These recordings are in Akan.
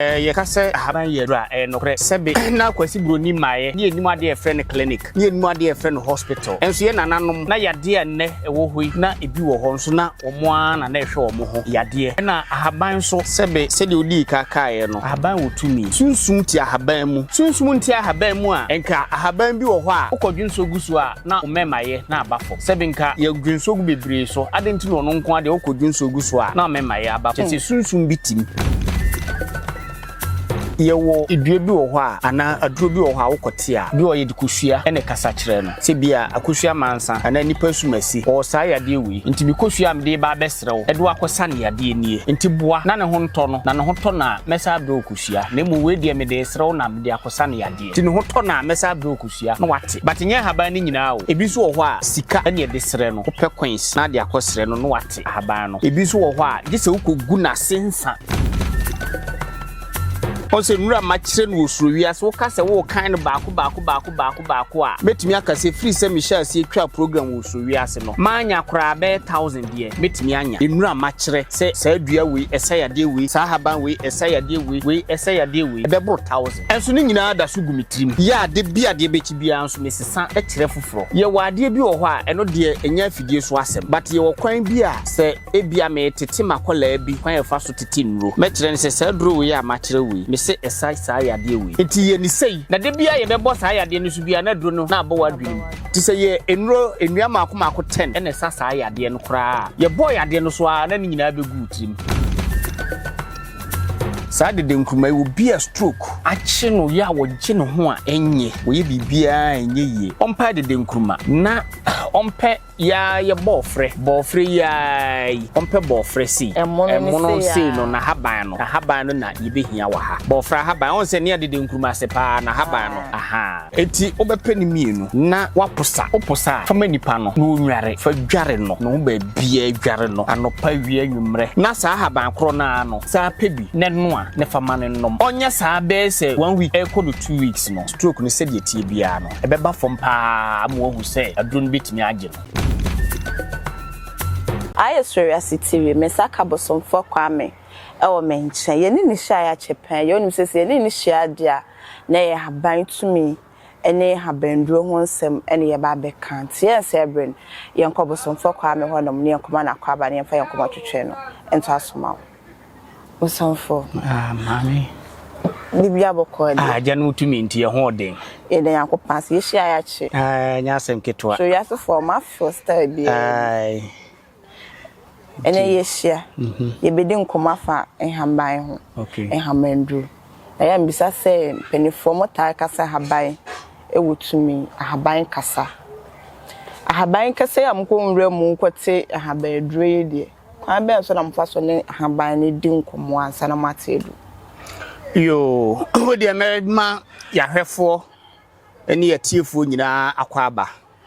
Yɛka sɛ ahaban yɛ aduro a, ɛyɛ nokorɛ. Sɛbe na Kwasi Buroni mmaeɛ na yɛnnim adeɛ a yɛfrɛ no clinic, na yɛnnim adeɛ a yɛfrɛ no hospital. Nso yɛn nananom, na yadeɛ a nnɛ ɛwɔ hɔ yi, na ebi wɔ hɔ nso na wɔn ara na na ɛhwɛ wɔn ho yadeɛ. Ɛna ahaban nso, sɛbe sɛdeɛ wodii ka kaeɛ no, ahaban wɔ tumi. Sunsum te ahaban mu. Sunsum nte ahaban mu a, ɛnka ahaban bi wɔ hɔ a, wokɔdwensɔ gu so a, na ɔmɛma yɛ na aba fam. Sɛbe nka yɛ dwonsogu bebree so, adɛn nti na ɔno nko ara deɛ ɔkɔ dwonsogu so a na ɔmɛma yɛ aba fam? Kyɛsɛ sunsum bi te mu. Yɛwɔ dua bi wɔ hɔ a, anaa aduro bi wɔ hɔ a wokɔ te a, bi wɔ hɔ a yɛde kosua na ɛkasa kyerɛ no. Sɛ bia akosua mansa anaa nipa asumasi, ɔwɔ saa yadeɛ wei, nti me kosua a mede reba abɛsrɛ wo de wo akɔsa no yadeɛ nie, nti boa na ne ho ntɔ no, na ne ho tɔ no a mɛsan abrɛ wo kosua, na mmom wei deɛ mede resrɛ wo na mede akɔsa no yadeɛ. Nti ne ho tɔ no a mɛsan abrɛ wo kosua na wate. But nyɛ ahaban no nyinaa o. Ebi nso wɔ hɔ a sika ne yɛde srɛ no. Wopɛ coins na de akɔ srɛ no na wate ahaban no. Ebi nso wɔ hɔ a gye sɛ wokɔgu n'ase nsa. Woahu sɛ nwura mma kyerɛ no wɔ suro wiase. Woka sɛ worekan no baako baako baako baako baako a, mɛtumi aka sɛ firi sɛ mehyɛɛ aseɛ twaa program wɔ suro wiase no, mannya koraa bɛyɛ thousand deɛ mɛtumi anya. Nwura mma kyerɛ sɛ saa dua wei ɛsa yadeɛ wei, saa ahaban wei ɛsa yadeɛ wei, wei ɛsa yadeɛ wei. Ɛbɛboro thousand. Nso ne nyinaa da so gu me tirim yɛ ade bi a deɛ ɛbɛkyi biara nso mesesa kyerɛ foforɔ. Yɛwɔ adeɛ bi wɔ hɔ a ɛno deɛ ɛnyɛ afidie so asɛm but yɛwɔ kwan bi a sɛ ebia meretete m'akwadaa bi kwan a yɛfa so tete nnuro mɛkyerɛ no sɛ saa aduro wei a makyerɛ wo yi mese ɛsa saa yadeɛ wei nti yɛ no sei na da biara yɛbɛbɔ saa yadeɛ no so biara na aduro no na abɔ w'adwene mu nti sɛ yɛ nnuro nnua mmaako mmaako ten na ɛsa saa yadeɛ no koraa a yɛbɔɔ yadeɛ no so ara na ne nyinaa bɛgu wo tirim. Saa dede nkruma yi, obi a stroke. Akye no yɛ a ɔgye ne ho a ɛnyɛ, ɔyɛ biribiara a ɛnyɛ yie. Ɔmpae dede nkruma. Na ɔmpɛ yi ara yɛ bɔɔfrɛ, bɔɔfrɛ yi ara yi. Ɔmpɛ bɔɔfrɛ sei. Ɛmono no sei no, n'ahaban no. N'ahaban no na yɛbɛhia wɔ ha. Bɔɔfrɛ ahaban. Ɔhu sɛ nea dede nkruma ase paa, n'ahaban no. Ahaa. Enti wobɛpɛ no mmienu na woapo sa. Wopo sa a, fa ma nipa no na ɔnnware. Fa dware no ne ho baabiara. Dware no anɔpa, awia, anwummerɛ. Na saa ahaban korɔ no ara no, san pɛ bi na noa na fa ma no nnom. Ɔnyɛ saa bɛyɛ sɛ one week rekɔ no two weeks no, stroke no sɛdeɛ ɛteɛ biara no, ɛbɛba fam pa ara ama wahu sɛ aduro no bɛtumi agye no. Ayɛ sɔre ase tiri. Me nsa ka Bosomfoɔ Kwame wɔ me nkyɛn. Yɛne no hyiaeɛ akyɛ pɛn. Yɛ wonim sɛ sɛ yɛne no hyia adeɛ a, Na ɛyɛ haban tumi ne habanduro ho nsɛm na yɛba abɛka. Nti yɛnsɛɛ bere no, yɛnkɔ Bosomfoɔ Kwame hɔnom na yɛnkɔma no akwaaba na yɛmfa yɛn kɔma twetwe no ntoaso ma wo. Bosomfoɔ. Ah, Maame. Ne bia bɔkɔ adi. Ah, agya no wo tumi nti yɛn ho wɔ den. Yɛda Nyankopɔn ase, yɛhyia yɛ akye. Ah, ɛnyɛ asɛm ketewa. So wiasefoɔ, wɔn afew style biara ni. Aye. Ɛnnɛ yɛahyia, yɛbɛdi nkɔmmɔ afa nhaban ho, nhamanduro. Ɛyɛ a mebisa sɛ mpaninfoɔ motaa ka sɛ ahaban wɔ tumi, ahaban kasa. Ahaban kasa yi a mokɔ nwura mu kɔte nhaban aduro yi deɛ, kwan bɛn so na mofa so ne ahaban no di nkɔmmɔ ansa na moate aduro? Yoo, wodeɛ mɛma yɛahwɛfoɔ ne yɛatiefoɔ nyinaa akɔ aba.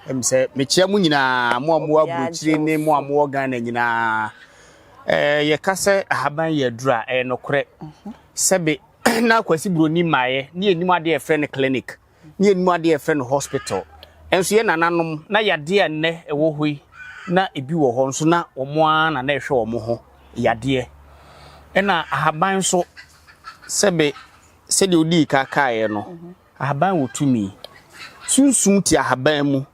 Ɛm sɛ mekyia mo nyinaa, mo a mowɔ aburokyire ne mo a mowɔ Ghana nyinaa. Ɛɛ yɛka sɛ ahaban yɛ aduru a, ɛyɛ nokorɛ. Mhm. Sɛbe na Kwasi Buroni mmaeɛ ne yɛnim adeɛ a yɛfrɛ no clinic, ne yɛnim adeɛ a yɛfrɛ no hospital. Ɛnso yɛ nananom na yadeɛ a nnɛ ɛwɔ hɔ yi, na ebi wɔ hɔ nso na wɔn ara na na ɛhwɛ wɔn ho yadeɛ. Ɛna ahaban nso sɛbe sɛdeɛ wodii ka kaeɛ no, mhm. Ahaban wɔ tumi. Sunsum te ahaban mu.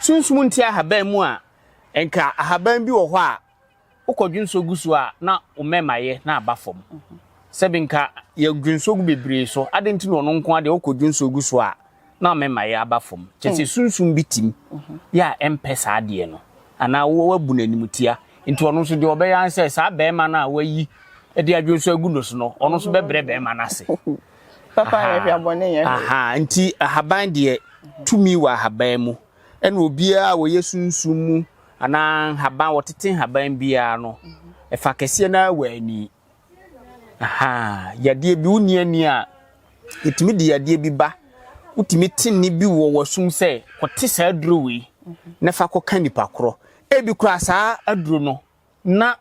Sunsum nte ahaban mu a, nka ahaban bi wɔ hɔ a wokɔ dwonsɔ gu so a na wo mmɛma yɛ na aba fam. Sɛbi nka yɛ dwonsɔ gu bebree so, ade nti na ɔno nko adeɛ wokɔ dwonsɔ gu so a na mmɛma yɛ aba fam. Kyɛ sɛ sunsum bi tim yɛ a ɛmpɛ saa adeɛ no anaa wabu no animtia. Nti ɔno nso deɛ ɔbɛyɛ ara ne sɛ saa bɛɛma no a wayi de adwonsɔ agu no so no, ɔno nso bɛbrɛ bɛɛma no ase. Papa yɛ hwɛ, bɔne yɛ hwɛ. Aha, nti ahaban deɛ tumi wɔ ahaban mu. Ɛna obiara a wɔyɛ sunsum mu anaa nhaban, wɔtete nhaban biara no, ɛfa kɛseɛ no ara wɔ ani. Aha, yadeɛ bi, wonni ani a, yɛtumi de yadeɛ bi ba. Wotumi te nne bi wɔ w'asom sɛ, kɔte saa aduro wei na fa kɔka nipa korɔ. Ebi koraa saa aduro no, na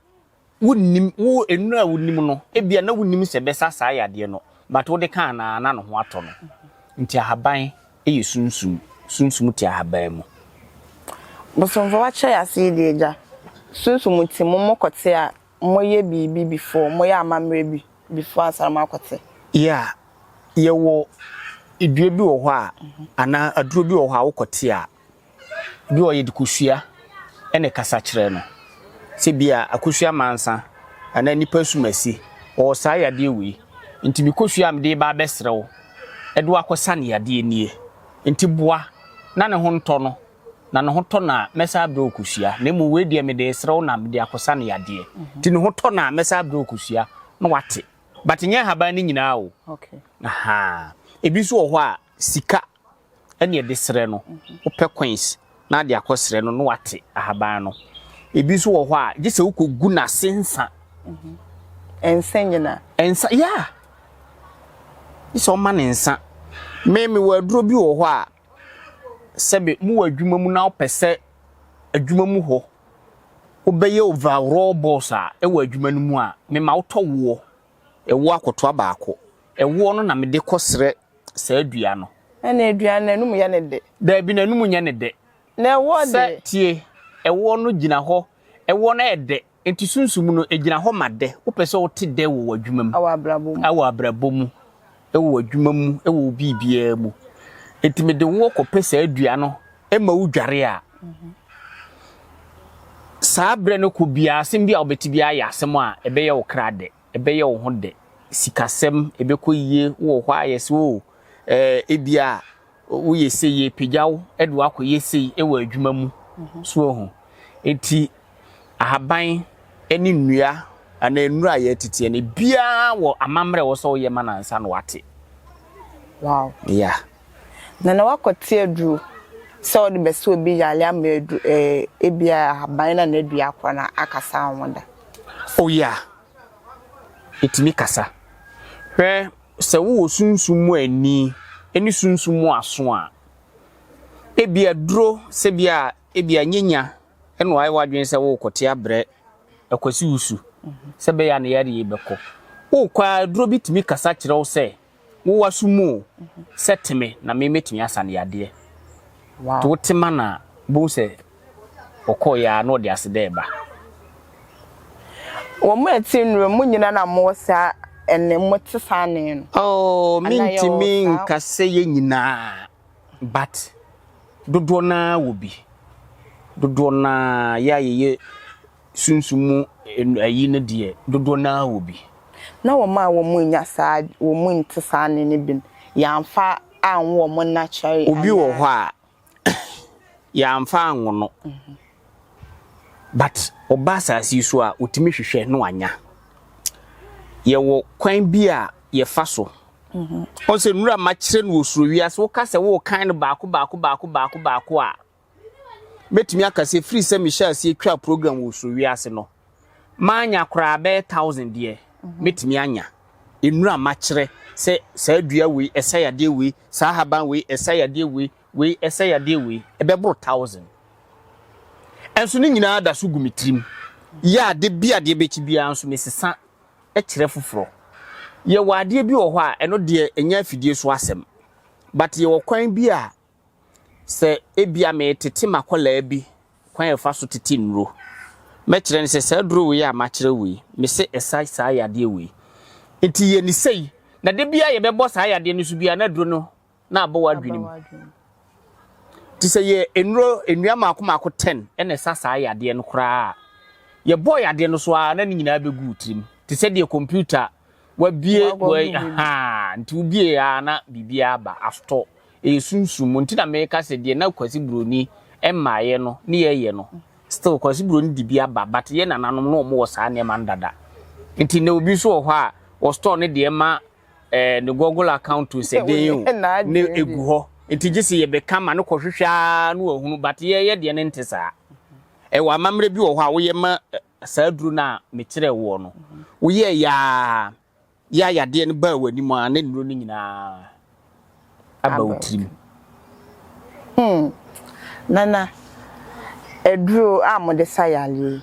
wonnim, wo, nnuro a wonim no, ebia na wonnim sɛ ɛbɛsa saa yadeɛ no, but wode ka anaa na ne ho atɔ no. Nti ahaban yɛ sunsum, sunsum te ahaban mu. Bosomfo wakyɛ yɛ ase yi deɛ agya, sunsum te mu, mo kɔte a, mo yɛ biribi before, mo yɛ amammerɛ bi before ansa na mo akɔte. Yeah, yɛwɔ dua bi wɔ hɔ a, anaa aduro bi wɔ hɔ a wokɔte a, Bi wɔ hɔ a yɛde kosua na ɛkasa kyerɛ no. Sɛ bia akosua mansa anaa nipa asumasi ɔwɔ saa yadeɛ wei nti me kosua a mede reba abɛsrɛ wo de wo akɔsa no yadeɛ nie nti boa na ne ho ntɔ no na ne ho tɔ no a mɛsan abrɛ wo kosua na mmom wei deɛ mede resrɛ wo na mede akɔsa no yadeɛ nti ne ho tɔ no a mɛsan abrɛ wo kosua na wate but nyɛ nhaban no nyinaa o. Okay. Ahaa. Ebi nso wɔ hɔ a sika ɛneɛ de serɛ no, wopɛ coins na ade akɔ serɛ no na wate ahaban no. Ebi nso wɔ hɔ a gye sɛ wokɔ gu n'ase nsa. Nsa nyina? Nsa, yeah! Gye sɛ ɔma ne nsa. Me me wɔ aduro bi wɔ hɔ a sɛbe mo wɔ adwuma mu na wopɛ sɛ adwuma mu hɔ wobɛyɛ overall boss a ɛwɔ adwuma no mu a, me ma wotɔ woɔ. Ɛwoɔ akotoa baako. Ɛwoɔ no na mede kɔsrɛ saa dua no. Ɛna aduan no, n'anum yɛ no dɛ. Daabi, n'anum nyɛ no dɛ. Na ɛwoɔ de? Sɛ, tie, ɛwoɔ no gyina hɔ, ɛwoɔ no yɛ dɛ. Enti sunsum no, ɛgyina hɔ ma dɛ. Wopɛ sɛ wote dɛ wɔ w'adwuma mu. Wɔ abrabɔ mu. Wɔ abrabɔ mu. wɔ w'adwuma mu, wɔ wo biribiara mu. Enti mede wo kɔpɛ saa dua no ma wo dware a, saa berɛ no kɔ biara asɛm bi a wobɛte biara yɛ asɛm a ɛbɛyɛ wo kra dɛ, ɛbɛyɛ wo ho dɛ. Sikasɛm, ɛbɛkɔ yie wɔ hɔ a yɛsɛ o, ɛɛ ebia Woyɛ sei, yɛrepagya wo de wo akɔyɛ sei wɔ adwuma mu. So ohu? Enti ahaban ne nnua anaa nnuru a yɛreteteɛ no, ebiara wɔ amammerɛ a ɛwɔ sɛ woyɛ ma no ansa na wate. Wow. Yeah. Na na wakɔte aduro sɛ ɔde bɛsɛ obi yare ama adu eh, ebia ahaban na na dua akora na akasa wɔn da. Oh yeah. Ɛtumi kasa. Hwɛ sɛ wowɔ sunsum mu ani ne sunsum mu aso a, ebia duro sɛbea a ebia nyɛ nya na wayɛ w'adwene sɛ worekɔte abrɛ Kwasi Wusu sɛ ɛbɛyɛ a ne yareɛ yi bɛkɔ. Wokɔ ara aduro bi tumi kasa kyerɛ wo sɛ wo w'aso mu o, sɛ te me na me mɛtumi asa no yadeɛ. Nti wote ma no a, wobɛhu sɛ. Ɔkɔe ara na ɔde aseda reba. Wɔn a ɛte nnura mu nyinaa na mowɔ saa nne, mote saa nne no. Oh, mintumi nka sɛ yɛn nyinaa, but dodoɔ no ara wɔ bi. Dodoɔ no ara, yɛn a yɛyɛ sunsum mu ayi no deɛ, dodoɔ no ara wɔ bi. Na wɔn a wɔnnya saa, wɔnte saa nne no bi no, yɛamfa anwo wɔn natural anaa? Obi wɔ hɔ a, yɛamfa anwo no but ɔba asase yi so a otumi hwehwɛ na wanya yɛwɔ kwan bi a yɛfa so ɔn sɛ nnura ma kyerɛ no wɔ soro wiase woka sɛ worekan no baako baako baako baako baako a mɛtumi aka sɛ firi sɛ mehyɛ aseɛ twa program wɔ soro wiase no Manya koraa bɛyɛ thousand deɛ, mɛtumi anya. Nnuro a makyerɛ sɛ saa dua wei ɛsa yadeɛ wei, saa haban wei ɛsa yadeɛ wei, wei ɛsa yadeɛ wei, ɛbɛboro thousand. Nso ne nyinaa da so gu me tirim. Yɛ a da bi adeɛ bɛkyi biara nso mesesa kyerɛ foforɔ. Yɛwɔ adeɛ bi wɔ hɔ a ɛno deɛ ɛnyɛ afidie so asɛm. But yɛwɔ kwan bi a Sɛ ebia meretete m'akwadaa bi kwan a yɛfa so tete nnuro, mɛkyerɛ no sɛ saa aduro wei a makyerɛ wo yi, mese ɛsa saa yadeɛ wei. Nti yɛ ne sei. Na da biara yɛbɛbɔ saa yadeɛ no so biara na aduro no na abɔ w'adwene mu. Nti sɛ yɛ nnuro nnua mmaako mmaako ten na ɛsa saa yadeɛ no koraa a, yɛbɔɔ yadeɛ no so ara na ne nyinaa bɛgu wo tirim te sɛ deɛ kɔmputa Wabue wei haa nti wobie a na biribi aba afto ɛyɛ sunsum mu nti na meka sɛ deɛ na Kwasi Buroni mmaeɛ no ne yɛyɛ no still Kwasi Buroni de bi aba but yɛ nananom no wɔn wɔ saa nneɛma no dada nti na obi nso wɔ hɔ a wɔ store ne deɛ ma eh, ne Google account sɛ den o ne egu hɔ nti gye sɛ yɛbɛka ma no kɔhwehwɛ ara na wahunu but yɛyɛ deɛ ne nte saa ɛwɔ amammerɛ bi wɔ hɔ a woyɛ ma Saa aduro no a mekyerɛɛ woɔ no, woyɛɛ yɛ ara yɛ a yadeɛ no baa w'anim ara na nnuro no nyinaa aba wo tirim. Hmm, Nana, aduro a mode sa yareɛ yi,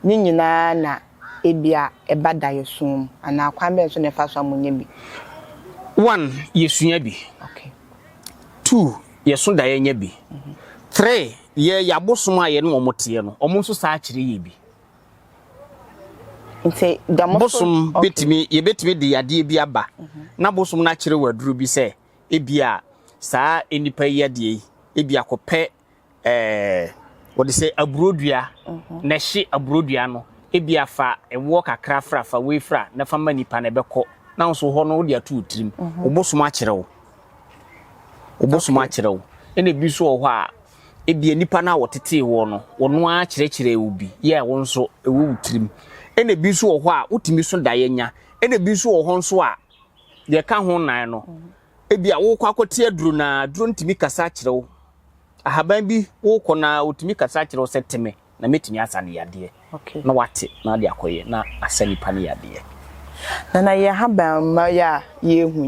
ne nyinaa na ebia ɛba daeɛso mu anaa kwan bɛn so na ɛfa so a monya bi? One, yɛsua bi. Two, yɛso daeɛ nya bi. Three, Yɛ yɛ abosom a yɛne wɔn teɛ no, wɔn nso saa kyerɛ yɛ bi. Nti da mo so. Bosom betumi yɛbɛtumi de yadeɛ bi aba mhm. na bosom no akyerɛ wɔ aduro bi sɛ ebi a saa nnipa yi yadeɛ yi ebi akɔpɛ ɛɛ wɔde sɛ aburodua mhm. na ɛhye aburodua no ebi afa ɛwoɔ kakra fra fa wei fra na fa ma nipa na ɛbɛkɔ na nso hɔ no wode ato tirim mhm. obosom akyerɛ wo. Wɔbɛsom akyerɛ wo. Ɛna ebi nso wɔ hɔ a, ebia nnipa no a wɔtetee woɔ no, wɔn ara kyerɛkyerɛɛ wo bi yɛɛ a wo nso ɛwɔ wo tirim. Ɛna ebi nso wɔ hɔ a, wotumi so daeɛ nya. Ɛna ebi nso wɔ hɔ nso a, deɛ ɛka ho nnan no, ebia worekɔ akɔte aduro no ara, aduro no tumi kasa kyerɛ wo. Ahaban bi worekɔ no ara, ɔtumi kasa kyerɛ wo sɛ te me. na mɛtumi asa no yadeɛ, na wate, na ade akɔ yɛ, na asa nnipa no yadeɛ. Na na yɛ haban mma yi a yɛ hu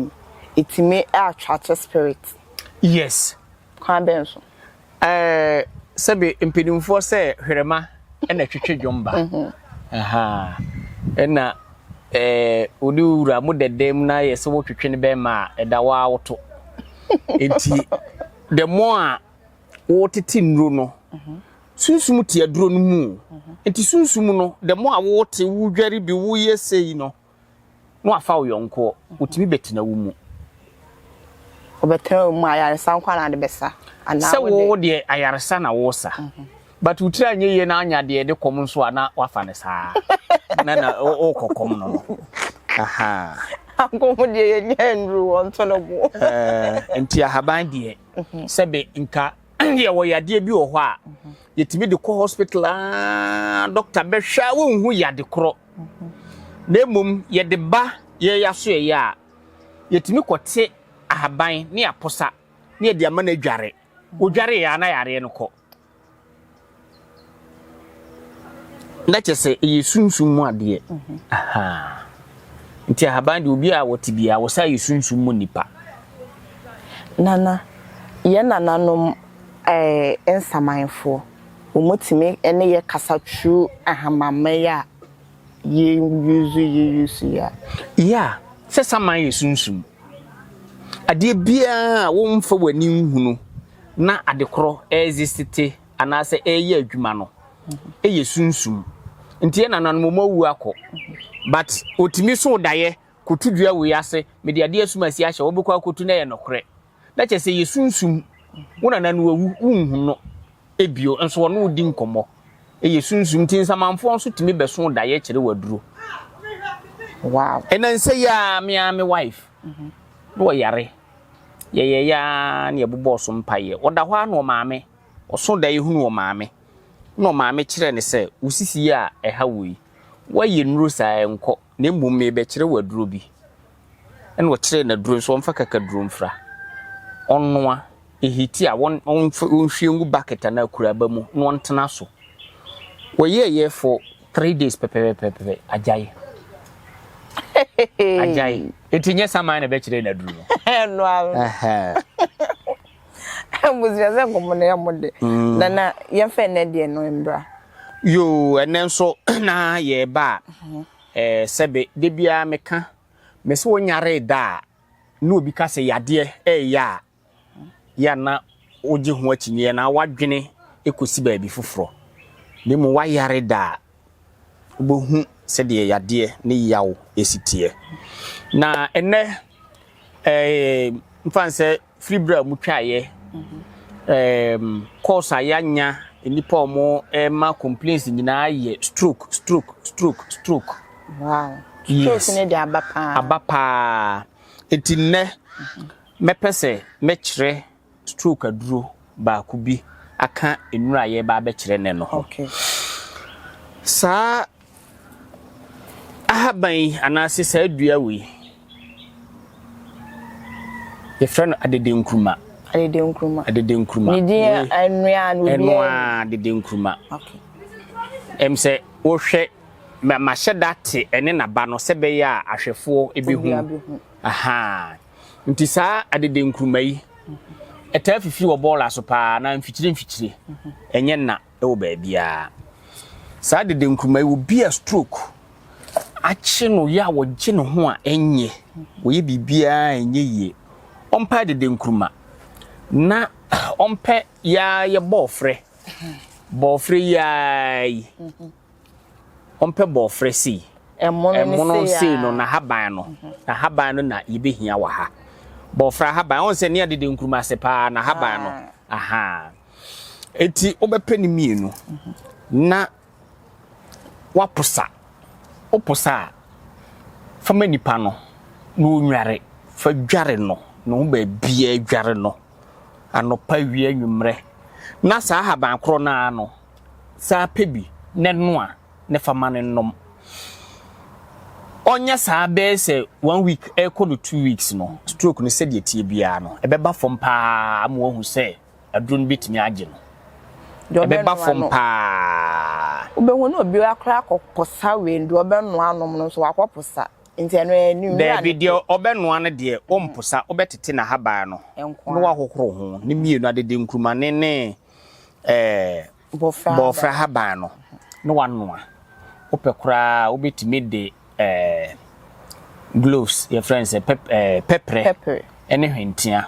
yi ɛtumi attracte spirit? Yes. Kwan bɛn so? Ɛɛ sɛbe mpɛnimfoɔ sɛ hwerɛma ɛna ɛtwetwe dwom ba, ahaa, ɛna ɛɛ wode wo wura mo dɛdɛ mu na yɛ sɛ wo twetwe no bɛma a ɛda wo ara wo to. Ɛti the more a wo tete nnuro no, Sunsum te aduro no mu. Nti sunsum no, the more a wote, wodware bi, woyɛ sei no, na wafa wo yɔnkoɔ. Wotumi bɛtena wo mu. Wobɛtena wo mu, ayaresa nko na ade bɛsa. Sɛ wo deɛ ayaresa na wosa. Mhm. But wo tiri anyɛ yie na anya deɛ ɛde kɔm nso a na wafa no saa. Na na wokɔ kɔm no no. Aha. Anko ho deɛ yɛnyɛ nnuru wɔnto no bo. Eh, nti ahaban deɛ, mhm. sɛbe nka deɛ wɔ yadeɛ bi wɔ hɔ a yɛtumi de kɔ hospital aa dɔkta bɛhwɛ a wonhu yade korɔ na mmom yɛde ba yɛyɛ aso yɛyɛ a yɛtumi kɔte ahaban ne apɔsa ne yɛde ama no adware wodware yɛ a na yareɛ no kɔ Na kyɛ sɛ ɛyɛ sunsum mu adeɛ. Nti ahaban deɛ obi a wɔte biara wɔsa yɛ sunsum mu nipa. Nana, yɛn nananom ɛɛ eh, nsamanfoɔ, wɔtumi ne yɛ kasa tru ahamamma yi a yɛ yuzu yɛ yuzu yi a. Ya, sɛ saman yɛ sunsum. Adeɛ biara a wɔmfa w'ani nhunu na ade korɔ ɛɛzisite anaasɛ ɛɛyɛ adwuma no yɛ sunsum nti yɛ nananom ɔmo awu akɔ but ɔtumi so daeɛ kɔto dua wei ase mede adeɛ asum asi ahyɛ wɔbɛkɔ akɔtu na ɛyɛ nokorɛ na kyɛ sɛ yɛ sunsum wo nana no awu wonhu no ebio nso wɔne wo di nkɔmmɔ ɛyɛ sunsum nti nsamanfoɔ nso tumi bɛso daeɛ kyerɛ waduro wow ɛna nsɛ yi a me a me wife na ɔyare Yɛyɛeɛ ara na yɛbobɔɔ so mpaeɛ. Ɔda hɔ ara na ɔmaame, ɔsoo daeɛ hunuu ɔmaame, ɛna ɔmaame kyerɛɛ no sɛ, Wo sisi yi a ɛha wo yi, woayɛ nnuro saa a, nkɔ, na mmom merebɛkyerɛ wo aduro bi. Ɛna ɔkyerɛɛ no aduro no sɛ ɔmfa kakaduro mfra, ɔnnoa, ɛhiti a, ɔnhwie ngu bucket anaa akuraba mu na ɔntena so. Ɔyɛeɛ for three days pɛpɛpɛpɛ, agyae. Agyae. Eti nyɛ saman na ɛbɛkyerɛ yɛn aduru no. Ɛno ara. Abusua sɛ nkɔmɔ na ɛmu de. Mm. Na na yɛmfa ɛnɛ deɛ no mbra. Yoo ɛnɛ nso na yɛreba a mhm. ɛɛ sɛbe de biara meka mesi wɔnyare da a na obi ka sɛ yadeɛ ɛɛyɛ a yɛ a na wogye ho akyinnye anaa w'adwene kosi baabi foforɔ, na mmom wayare da a, wobɛhu sɛdeɛ yadeɛ ne yaw si teɛ. Na ɛnnɛ, mfa no sɛ firi berɛ a wɔtwaeɛ, course a yɛanya nnipa a wɔma complaints nyinaa yɛ stroke, stroke, stroke, stroke. Wow. Stroke ne de aba paa. Aba paa. Enti nnɛ, Mɛpɛ sɛ mɛkyerɛ stroke aduro baako bi aka nnuro a yɛreba abɛkyerɛ nnɛ no ho. Saa ahaban yi anaase saa dua wei, yɛfrɛ no adedenkuruma. Adedenkuruma. Adedenkuruma. Ne din ɛnoa no bi. Ɛnoa adedenkuruma. Okay. Ɛm sɛ wohwɛ mahyɛ da te ɛne naba no sɛ bɛyɛ a ahwɛfoɔ ebi hu. Aha. Nti saa adede nkuruma yi ɛtaa fifiri wɔ bɔɔla so paa na mfikyire mfikyire ɛnyɛ nna ɛwɔ baabiara. Saa adede nkuruma yi obi a stroke akye no yɛ a wɔgye ne ho a ɛnyɛ wɔyɛ biribiara ɛnyɛ yie. Ɔmpɛ adede nkuruma na ɔmpɛ yaa yɛ bɔɔfrɛ bɔɔfrɛ yaa yi. Ɔmpɛ bɔɔfrɛ sei. Ɛmono sei no n'ahaban no, n'ahaban no na yɛbɛhia wɔ ha. Bɔɔfrɛ ahaban, ɔhu sɛ nea dede nkuruma ase paa n'ahaban no. Ahaa. Eti wobɛpɛ ne mmienu na waposa. Woposa a, fa ma nipa no na ɔnware. Fa dware no, ne ho baabiara dware no, anɔpa, awia, anwummerɛ. Na saa ahaban korɔ no ara no, saa pɛ bi na ɛnoa na fa ma no nnom. Ɔnyɛ saa bɛyɛ sɛ one week ɛrekɔ no two weeks no, stroke no sɛdeɛ ɛteɛ biara no, ɛbɛba fam paa ama wahu sɛ aduro no bɛtumi agye no. Ɛbɛba fam paa. Wobɛhu ne obi akora akɔposa wei no, deɛ ɔbɛnoa anom no nso wakɔposa. Nti ɛno ɛyɛ ne nwura no. Daabi, deɛ ɔbɛnoa no deɛ, ɔmposa, wobɛtete n'ahaban no na wahohoro ho, ne mmienu, adede nkurumane ne bɔɔfrɛ ahaban no na wanoa. Wopɛ koraa a, wobɛtumi de gloves, yɛfrɛ no sɛ pɛprɛ ne hwentia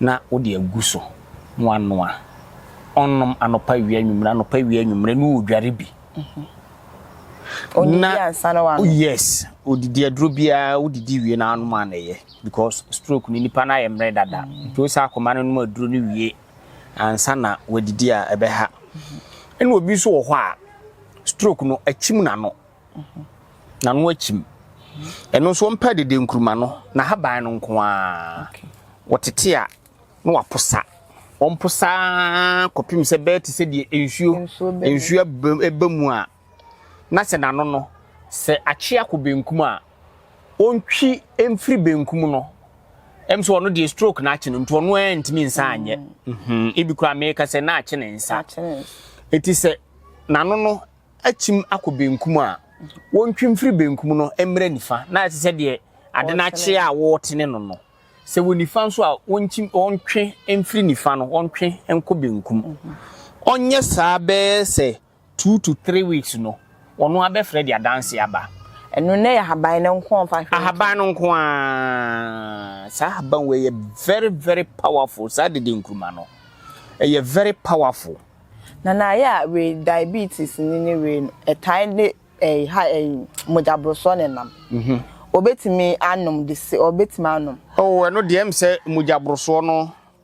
na wode agu so na wanoa. Ɔnnom anɔpa awia anwummere, anɔpa awia anwummere na ɔredware bi. Mhm. Ɔdidi ansa na wanom. Yes, ɔdidi aduro biara wodidi wie na anom a na ɛyɛ because stroke no nipa no ayɛ mmerɛ dada. Mm. Nti wo saa akoma no nom aduro no wie ansa na wadidi a ɛbɛha. Ɛna obi nso wɔ hɔ a stroke no akyim n'ano. N'ano akyim. Ɛno nso wɔmpɛ dede nkuruma no na haban no nko ara. Wɔtete a na waposa. Wɔmposa ara kɔpem sɛ bɛyɛ te sɛ deɛ nsuo nsuo ɛba mu a na sɛ n'ano no, sɛ akye akɔ benkum a, ɔntwi mfiri benkum no. Ɛm sɛ ɔno deɛ stroke na akye no nti ɔno ara ntumi nsa anyɛ. Mm-hmm. Ebi koraa meka sɛ na akye ne nsa. Eti sɛ n'ano no akyim akɔ benkum a, wɔntwi mfiri benkum no mmerɛ nifa na ɛte sɛ deɛ ade no akye a wɔretene no no. Sɛ wɔ nifa nso a, wɔntwi wɔntwe mfiri nifa no wɔntwe nkɔ benkum. Mm-hmm. Ɔnyɛ saa bɛyɛ sɛ Two to three weeks no ɔno ara bɛfrɛ de adanse aba. Ɛno na ɛyɛ ahaban no nko a ɔmfa hwɛ. Ahaban no nko a, saa ahaban wei yɛ very very powerful saa dede nkruma no ɛyɛ very powerful. Na na ayɛ a wei diabetes ni ne wei no ɛtae de ɛyi ha ɛyi mogya borosɔ ne nam. Ɔbɛtumi anom de se ɔbɛtumi anom. Oh ɛno deɛ ɛm sɛ mogya borosoɔ no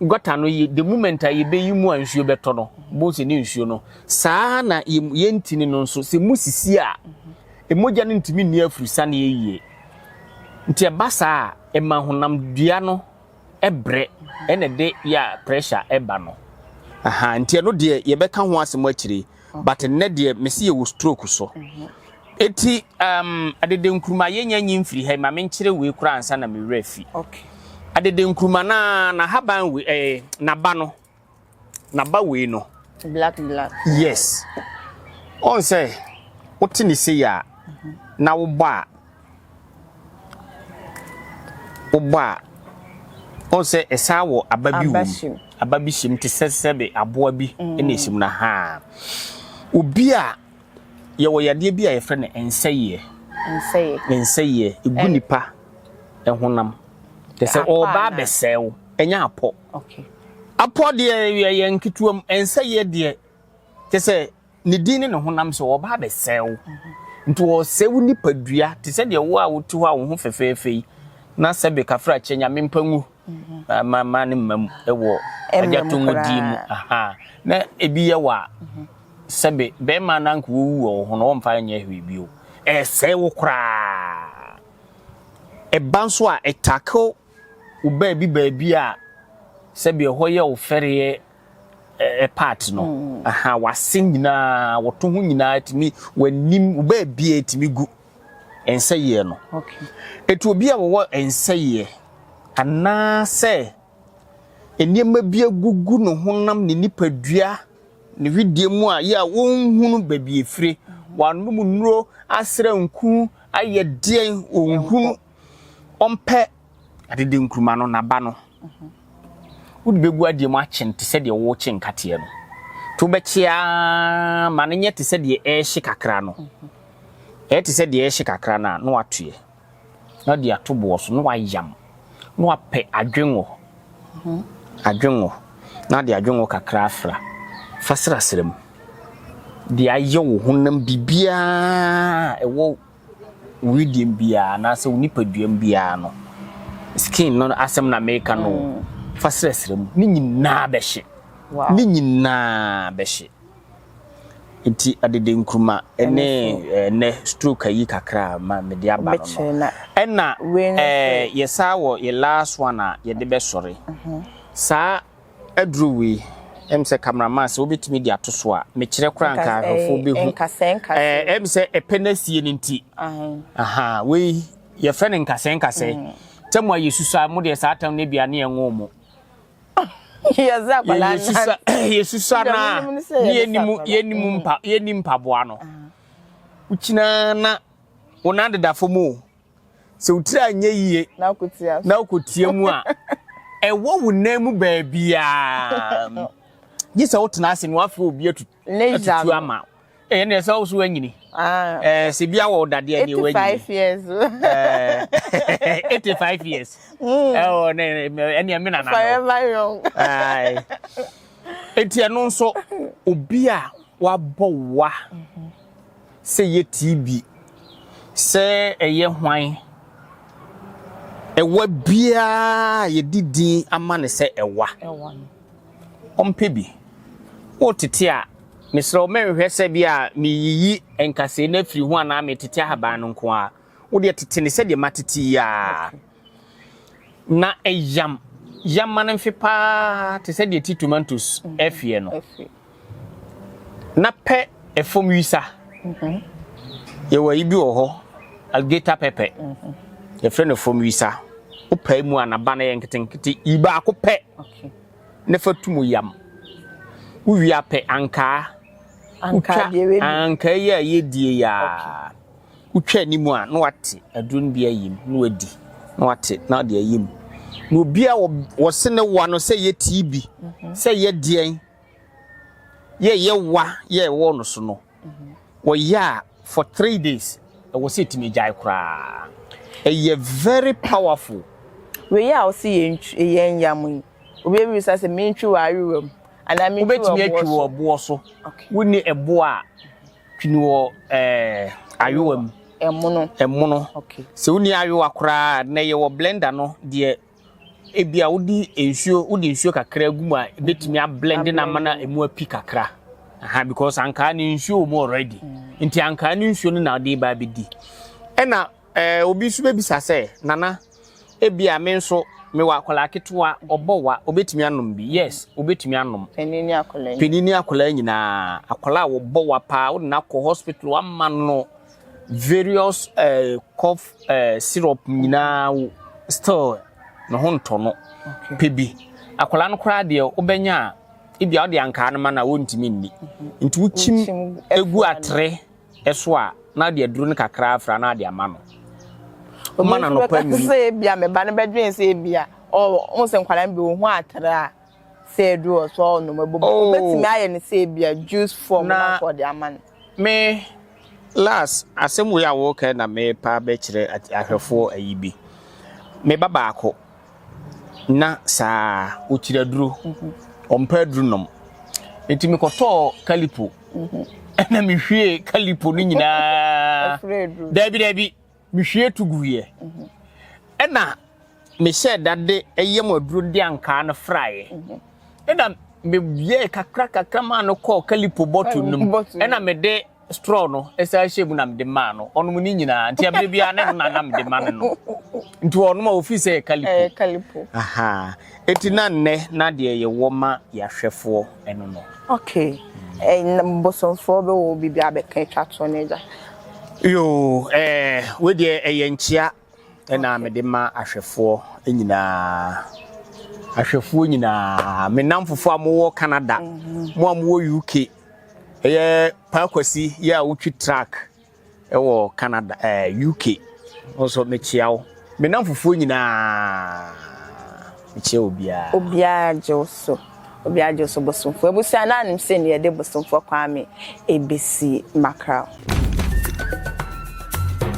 Gɔta no ye the moment a yɛbɛyi mu a nsuo bɛtɔ no, bohu sɛ ne nsuo no. Saa ara na yɛn ntini no nso, sɛ mu sisi a, mogya no ntumi nni afurusaneɛ yie. Nti ɛba saa a, ɛma honamdua no brɛ, ɛna ɛde yɛ a pressure ba no. Aha, nti ɛno deɛ yɛbɛka ho asɛm akyire yi. but nnɛ deɛ mese yɛwɔ stroke so eti um, adede nkuruma yɛnya nyi mfiri ha yi ma menkyerɛ wei koraa ansa na me werɛ fi adede nkuruma na na haban wei eh, naba no naba wei no black black yes ɔn sɛ wote ne sei a na wobɔ a Wobɔ a, wohu sɛ ɛsan wɔ aba bi wɔ mu. Aba bi hyɛ mu te sɛ sɛbe aboa bi na ɛhyɛ mu na ha. Obi a yɛwɔ yadeɛ bi a yɛfrɛ no nsɛyɛ. Nsɛyɛ. Nsɛyɛ. Ɛgu nipa ɛhonam. Te sɛ ɔba abɛsɛe wo. Ɛnyɛ apɔ. Apɔ deɛ yɛn ketewa mu. Nsɛyɛ deɛ te sɛ. Ne din ne ne honam so, wɔba abɛsɛe wo. Nti wɔresɛe wo nipadua te sɛ deɛ wo a wote hɔ a wo ho fɛfɛɛfɛ yi na sɛbe kafrakyɛ nyame mpa ngu ah, ma ma ne mma mu wɔ agya to mu din mu aha na ebi yɛ wɔ a sɛbe bɛrima na nka wɔwu wɔ wo ho no wɔmfa nyɛ hwee bio ɛsɛe wo koraa ɛba nso a ɛtakew wo baabi baabi a sɛbe ɛhɔ yɛ wo fɛreɛ part no aha wase nyinaa wɔto ho nyinaa tumi w'anim baabia tumi gu nsɛyɛ no ɛtu obi a wɔwɔ nsɛyɛ anaasɛ nneɛma bi agugu ne honam ne nipadua ne hwedeɛ mu a yɛ a wɔnhunu baabi efire wɔanom nnuro asra nku ayɛ deɛn wɔnhunu ɔmpɛ adede nkuruma no n'aba no wode bɛgu adeɛ mu akye no te sɛ deɛ wokye nkateɛ no nti wobɛkye ara ma no nyɛ te sɛ deɛ ɛrehye kakra no ɛyɛ te sɛ deɛ ɛrehye kakra no a na watoeɛ na de ato boɔ so na wayam na wapɛ adwengo adwengo na de adwengo kakra afra fa serasera mu de ayɛ wo honam biribiara ɛwɔ wo wedeɛm biaa anaasɛ wo nipaduam biaa no skin no asɛm na meka no mm. fa srɛsrɛ mu ne nyinaa bɛhye ne nyinaa bɛhye nti adede nkuruma ne ɛnɛ stroke ayi kakra ma mede aba no no ɛna yɛsaa wɔ yɛ last one a yɛde bɛsɔre mhm. saa Aduru wei, ɛm sɛ camera man sɛ wobɛtumi de ato so a, mekyerɛ koraa nka ahwɛfoɔ bɛhu. Ɛm sɛ ɛpɛ no asie no nti. Ahaa, wei yɛfrɛ no nkasɛɛ nkasɛɛ. Tɛ mo a yɛsusu a, mo deɛ saa tɛm no bia ne ɛnwoo mo. Yɛsusu a na yɛnim mpaboa no. Wokyinaa na wo nan deda fam o, Sɛ wo tiri anyɛ yie na wokɔtia mu a, ɛwɔ wo nan mu baabiaa. Gye sɛ wotena ase na wafrɛ obi atutu ama wo. Eh, ɛnna ɛsɛ wo so anyini. Ah. Eh, sɛ bi awɔ dadeɛ ne wɔ anyini. 85 years. Eh, 85 years. Mm. Oh, ne ɛnna me nana. Forever young. Ai. Enti ɛno nso obi a wabɔ wa. Mm -hmm. Sɛ yɛtii bi sɛ ɛyɛ hwan, ɛwa biara a yɛde din ama no sɛ ɛwa no, ɔmpɛ bi. Woretete a, mesrɛ wo mɛnhwɛ sɛ bi a mereyiyi nkasɛe no afiri ho anaa meretete ahaban no nko ara. Wo deɛ tete no sɛdeɛ matete yi ara. Na ɛyam yam ma no mfe paa te sɛ deɛ ti tomatoes afie no. Na pɛ ɛfam wisa. Mhm. Yɛwɔ ayi bi wɔ hɔ, alligator pepper. Mhm. Yɛfrɛ no fam wisa. Wopɛ mu a n'aba no yɛ nketenkete. Yi baako pɛ na fa tu mu yam. Wowie apɛ ankaa. Ankaa deɛ wei. Ankaa yi a yɛdie yi a. Wotwa anim a, na wate aduro no bi ayim, na wadi, na wate, na ɔde ayim. Na obi a wɔse ne wa no sɛ yɛ TB, mhm. sɛ yɛ deɛn, yɛ yɛ wa yɛ ɛwɔ no so no, mhm. wɔyɛ a for three days, ɛwɔ sɛ ɛtumi gyae koraa. Ɛyɛ very powerful. Wei a ɔse yɛn yam yi, obi ebisa sɛ mentwi wɔ ayewa mu anaa mentwi wɔ ɛboɔ so. Wobɛtumi atwi wɔ ɛboɔ so. Wonni ɛboɔ a Twene wɔ eh, ayowa mu. Ɛmono. Ɛmono. Okay. Sɛ wonni ayowa koraa na ɛyɛ wɔ blender no deɛ ebi a wodi nsuo wodi nsuo kakra gu mu a ebetumi mm-hmm. ablend na ama na emu api kakra. Aha because ankaa ne nsuo wɔ mu already. Mm. Nti ankaa ne nsuo no na ɔde ba abɛdi. Ɛna Obi nso bɛbisa sɛ, Nana, ebia me nso mewɔ akwadaa ketewa, ɔbɔ wa, ɔbɛtumi anom bi? Yes, ɔbɛtumi anom. Panin ne akwadaa. Panin ne akwadaa nyinaa. Akwadaa a ɔbɔ wa paa, wode no akɔ hospital, ama no various eh, cough eh, syrup nyinaa, still ne ho ntɔ no. Pɛ bi. Akwadaa no koraa deɛ wobɛnya a, ebia wode ankaa no ma no a, wɔntumi nni. Nti wokyim egu atere. so a, na ɔde aduru no kakra afra na ɔde ama no. Ɔma no anɔpa nwunu. Obi nso bɛka sɛ ebia me ba no bɛdwen sɛ ebia ɔho sɛ nkwadaa no bi wɔn ho atra a sɛ aduru wɔ so a ɔnom abom. Oh. Obetumi ayɛ no sɛ ebia juice form na nso ɔde ama no. Me last asɛm wei a wɔreka na merepa bɛkyerɛ ahwɛfoɔ ayi bi. Me ba baako. na saa ara, ɔkyiri aduro, ɔmpɛ aduro nom. Nti mekɔtɔɔ kalipo, ɛna mehwie kalipo no nyinaa, daabi daabi, mehwie to guiɛ. Ɛna mehyɛ dade ɛyɛ mu aduro de ankaa no fraeɛ. Ɛna meyɛɛ kakra kakra maa no kɔɔ kalipo bɔtol no mu, ɛna mede Straw no san hyɛɛ mu na mede maa no. Ɔnom ne nyinaa, nti ɛberɛ biara ne no na na mede ma no nom. Nti ɔnom a ɔfiri sɛ ɛyɛ Kalipo. Ɛyɛ Kalipo. Ahaa, enti na nnɛ na deɛ yɛwɔ ma yɛahwɛfoɔ ɛno no. Okay, ɛn bosomfoɔ bɛwɔ biribi abɛka atwa toɔ no agya? Yoo, ɛɛ, wei deɛ ɛyɛ nkyea. na mede ma ahwɛfoɔ nyinaa. Ahwɛfoɔ nyinaa, me nnamfofoɔ a mowɔ Canada, mhm. mo a mowɔ UK, ɛyɛ Pakwasi yɛ a wotwi track ɛwɔ Canada ɛɛ eh, UK nso mekyia wo. Me nnamfofoɔ nyinaa mekyia obiara. Obiara gye wo so. obi agye so bosomfoɔ abusua na anim sɛ ne yɛde bosomfoɔ kwame ebesi makra.